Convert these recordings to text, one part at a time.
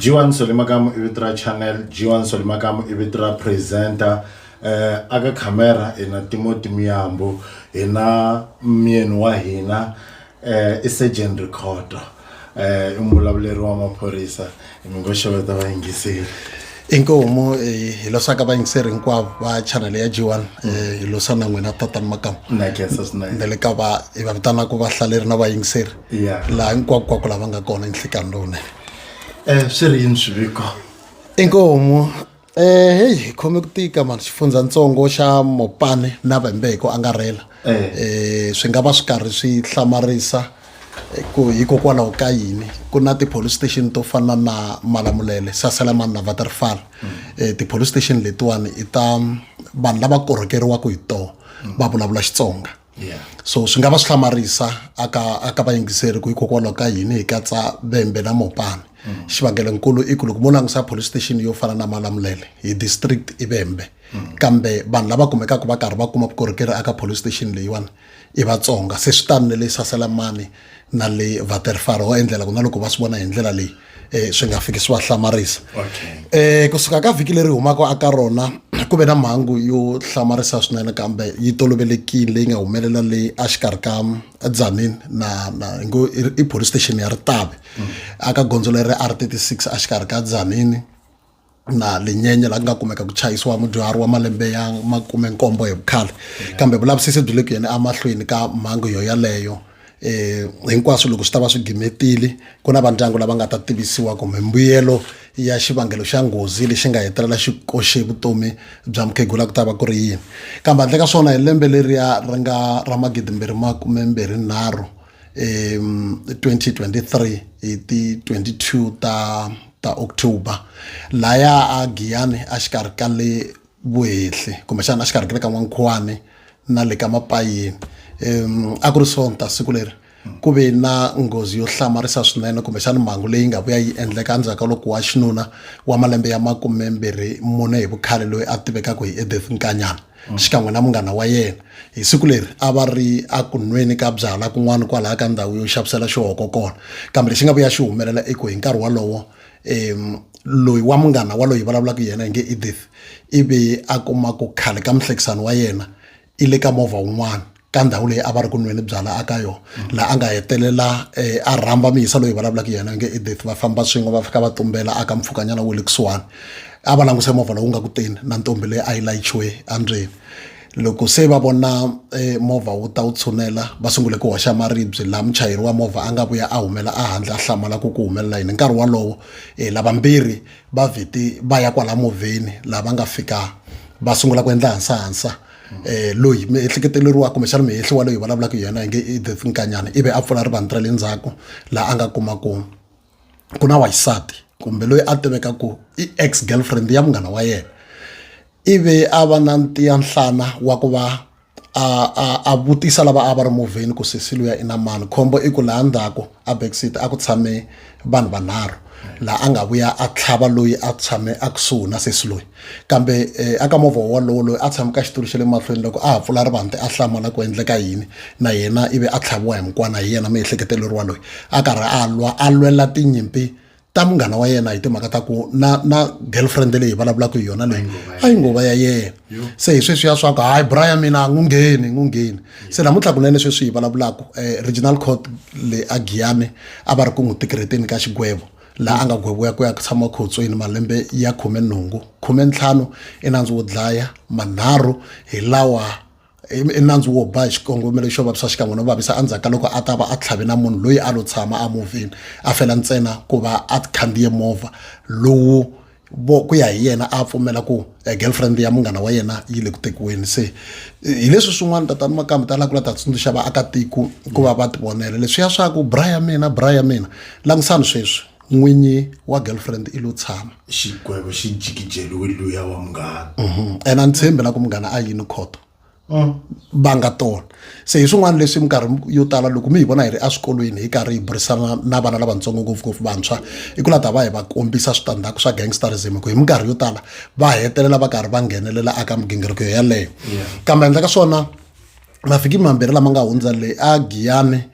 G1 Solimakamu i vito ra channel G1 Solimakamu i vito ra presenter eh aka camera ina Timoti Miyambo ina myeni wa hina eh i Sergeant Rikhotto eh i mulavuleri wa maphorisa mi ngo xeweta vayingiseri inkomu eh, hi losaka vayingiseri hinkwavo va chanele ya g1 eh, hi losana n'wina tatani makamu na khensa swinene na le ka va hi va vitanaka vahlaleri na vayingiseri Yeah. laha hinkwakukwako lava nga kona nhlikani lowunene Eh swi ri yini swiviko? inkomu eh heyi khome ku tika mani xifundzatsongo xa mopane na vembe hi ku angarhela Eh. eh swi nga va swi karhi swi hlamarisa eh, ku hikokwalaho ka yini ku na ti-police station to fana na malamulele saselamani na vaterfal eh ti-police station letiwani i ta vanhu lava korhokeriwaka hi toho va vulavula xitsonga yeah. so swi nga va swi hlamarisa aka aka vayingiseri ku hikokwalaho ka yini hi katsa vembe na mopani mm. xivangelonkulu i ku loko mo langusa police station yo fana na malamulele hi district i vembe mm. kambe vanhu lava kumekaka va karhi va kuma vukorhokeri aka police station leyiwani i vatsonga se swi tani ne leyi sasela mani na le vaterfaro wa endlela ku na loko va swi vona hi ndlela leyi um swi nga fiki swi va hlamarisa um kusuka ka vhiki leri humaka aka rona ku ve na mhangu yo hlamarisa swinene kambe yi tolovelekile leyi nga humelela leyi a xikarhi ka dzanini na na hi ngo i police station ya ritavi mm. aka gondzo leri r thirty six a xikarhi ka dzanini na linyenye la ku nga kumeka ku chayisiwa mudyuhari wa malembe ya makume nkombo hi vukhale kambe vulavisisi byi le ku yeni emahlweni ka mhangu yo yaleyo eh hinkwaswo loko swi ta va swi gimetile ku na vandyangu lava nga ta tivisiwa kumbe mbuyelo ya xivangelo xa nghozi lexi nga hetelela xi koxe vutomi bya mukhegula ku ta va ku ri yini kambe handle ka swona hi lembe leriya ri nga ra magidi mbirhi makume mbirhi nharhu um 2023 hi ti 22 ta ta october laya a giyani a xikarhi ka le vuhehli kumbexana a xikarhi ka le ka n'wankhuwani na le ka mapayini um a ku ri sonta siku leri ku ve na nghozi yo hlamarisa swinene kumbexana mhangu leyi nga vuya yi endleka endzhaku ka loko wa xinuna wa malembe ya makumembirhi mune hi vukhale loyi a tivekaka hi edeth nkanyana mm. xikan'we na munghana wa yena hi siku leri a va ri a ku nweni ka byala kun'wana kwalaha ka ndhawu yo xavisela xihoko kona kambe lexi nga vuya xi humelela i ku hi nkarhi wolowo um loyi wa munghana wa loyi vulavulaka yena hi nge edith ivi a kuma ku khale ka muhlekisani wa yena i le ka movha wun'wana ka ndhawu leyi a va ri ku nweni byala aka yona laha a nga hetelela eh, a rhamba miyisa loyi vulavulaka yena nge edith va famba swin'we va fika va tumbela aka mpfhukanyana wo le kusuwani a va languse movha lowu nga ku teni na ntombi leyi a yi layichiwe andzeni loko se va vona eh, movha wu ta wu tshunela va sungule ku hoxa maribye laha muchayeri wa movha a nga vuya a humela ehandle a hlamala ku ku humelela yini nkarhi wolowo eh, lavambirhi va vheti va ya kwala movheni laha va nga fika va sungula ku endla hansahansa eh loyi miehleketeleriwa kumbexana mihehli wa loyi vulavulaka yena hi nge i the nkanyana ivi a pfula rivani ra le ndzhaku laha a nga kuma ku ku na waxisati kumbe loyi a tiveka ku i ex girlfriend ya munghana wa yena ivi a va na ntiya nhlana wa ku va a a a vutisa lava a va ri movheni ku sesi luya i na mani khombo i ku laha ndzhaku a backseat a ku tshame vanhu vanharhu laha a nga vuya a tlhava loyi a tshame a kusuhi na sesi loyi kambe eh, aka movha wolowo loyi a tshame ka xitulu xa le mahlweni loko a ha pfula rivante a hlamala ku endleka yini na yena ivi a tlhaviwa hi mukwana hi yena miehleketeleriwa loyi a karhi a lwa a lwela tinyimpi ta munghana wa yena hi timhaka ta ku na na girlfriend leyi hi vulavulaka hi yona leyi a yi ngova ya yena se hi sweswiya swa ku hayi brian mina a n'wi ngheni n'wi ngheni se namuntlha kunene sweswi hi vulavulaka um eh, regional court le a giyane a va ri ku n'wi tikireteni ka xigwevo laha a nga gweviwa ku ya ku tshama khotsweni malembe ya khume nhungu khume ntlhanu i nandzu wo dlaya manharhu hi lawa i nandzu wo ba hi xikongomelo xo vavisa xikan'we no vavisa endzhaku ka loko a ta va a tlhave na munhu loyi a lo tshama a movheni a fela ntsena ku va a khandziye movha lowu vo ku ya hi yena a pfumela ku eh, girlfriend ya munghana wa yena yi le ku tekiweni se hi leswi swin'wana tatani makambe ta lava ku la ta tsundzuxa vaakatiko ku va va tivonela leswiya swa ku bra ya mina bra ya mina langisani sweswi n'winyi wa girlfriend i lo tshama xikwembu xi jikijeliwe luya wa munghana mhm. and a ni tshembi na ku munghana a yini khoto mm. va nga tona se hi swin'wana leswi minkarhi yo tala loko mi hi vona hi ri eswikolweni hi karhi hi burisana na vana lavatsongo ngopfungopfu vantshwa i ku la ta va hi va kombisa switandzhaku swa gangsterism hi ku hi minkarhi yo tala va hetelela va karhi va nghenelela aka migingiriko yeleyo kambe handle ka swona mavhiki mambirhi lama nga hundza le a giyane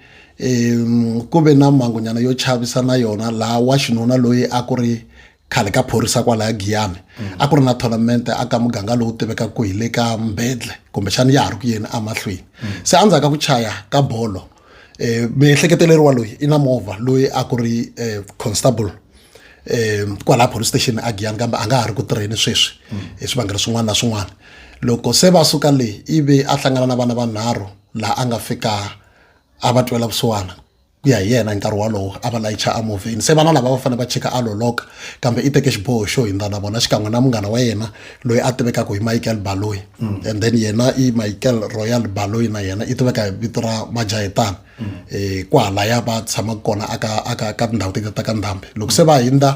um ku ve na mhangunyana yo chavisa na yona laha wa xinuna loyi a ku ri khale ka phorisa kwalaya giyane a ku ri na tournament a ka muganga lowu tivekaka ku hi le ka mbedle kumbexana ya ha ri ku yeni emahlweni se endzhaku ka ku chaya ka bolo miehleketelelo wa loyi i na movha loyi a ku ri constable um kwalaha police station a giyani kambe a nga ha ri ku tirheni sweswi hi swivangelo swin'wana na swin'wana loko se va suka le ivi a hlangana na vana vanharhu laha a nga fika a va twela vusiwana ku ya hi yena hi nkarhi wolowo a va layicha emovheni se vana lava va fanele va chika a loloka kambe i teke xiboho xo hindza na vona xikan'we na munghana wa yena loyi a tivekaka hi michael baloyi mm. and then yena i michael royal baloyi na yena i tiveka hi vito ra majahitana mm. eh, ku halaya va tshamaka kona aka aka ka tindhawu tete ta ka ndhambi loko se va hindza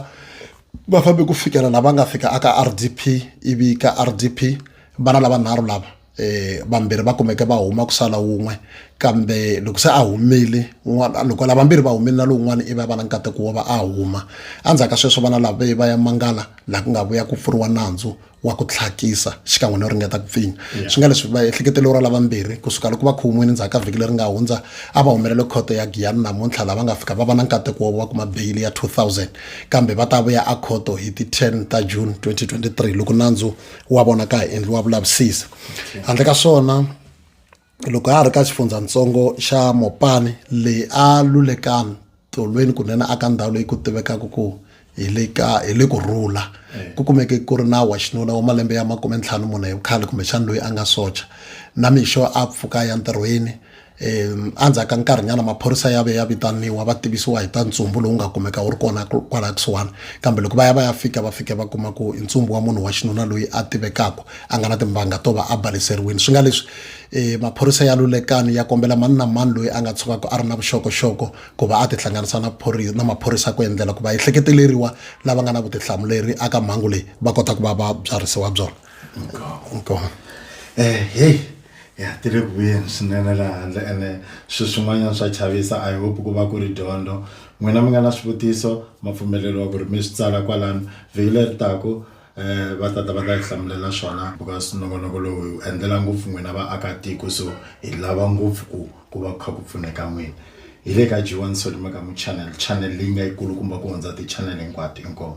va fambe ku fikela lava nga fika aka r d p ivi ka r d p vana lava nharhu lava eh vambirhi va kumeke va huma ku sala wun'we kambe loko se a humile un'wana loko lava vambirhi va humile na lowun'wana i va va na nkateko wo va a huma endzhaku ka sweswo vana lava va ya mangala laha ku nga vuya ku pfuriwa nandzu wa ku tlhakisa xikan'we no ringeta ku pfinya swi nga leswi va ehleketelelo ra lavambirhi kusuka loko va khumwini ndzhaku ka vhiki leri nga hundza a va humelele khoto ya giyani namuntlha lava nga fika va va na nkateko wo va kuma beyili ya 2000 kambe va ta vuya a khoto hi ti 10 ta june 2023 loko nandzu wa vona ka hi endliwa vulavisisi handle ka swona loko a ha ri ka xifundzhantsongo xa mopani leyi a lulekani tolweni kunene aka ndhawu leyi ku tivekaka ku hi le ka hi le ku rhula eh. ku kumeke ku ri na wa xinuna wa malembe ya makume ntlhanu mune hi vukhale kumbexani loyi a nga socha na mixo a pfuka ya ntirhweni endzhaku ka nkarhinyana maphorisa ya ve ya vitaniwa va tivisiwa hi ta ntsumbu lowu nga kumeka wu ri kona kwalaya kusuhani kambe loko va ya va ya fika va fika va kuma ku i ntsumbu wa munhu wa xinuna loyi a tivekaka a nga na timbanga to va a baleseriwini swi nga leswi um maphorisa ya lulekani ya kombela mani na mani loyi a nga tshukaka a ri na vuxokoxoko ku va a tihlanganisa na na maphorisa ku endlela ku va ehleketeleriwa lava nga na vutihlamuleri aka mhangu leyi va kota ku va va byarhisiwa byona inkomu um heyi Hi hatile ku vuyeni swinene le handle ene swi swin'wanyana swa chavisa. I hope ku va ku ri dyondzo. N'wina mi nga na swivutiso ma pfumeleriwa ku ri mi swi tsala kwalano. Vhiki leri taka va ta ta va ta hi hlamulela swona because nongonoko lowu hi wu endlela ngopfu n'wina vaakatiko so hi lava ngopfu ku ku va ku kha ku pfuneka n'wina. Hi le ka G1 Solly Makamu Channel, channel leyi nga yi kulukumba ku hundza ti-channel hinkwato. Inkomu.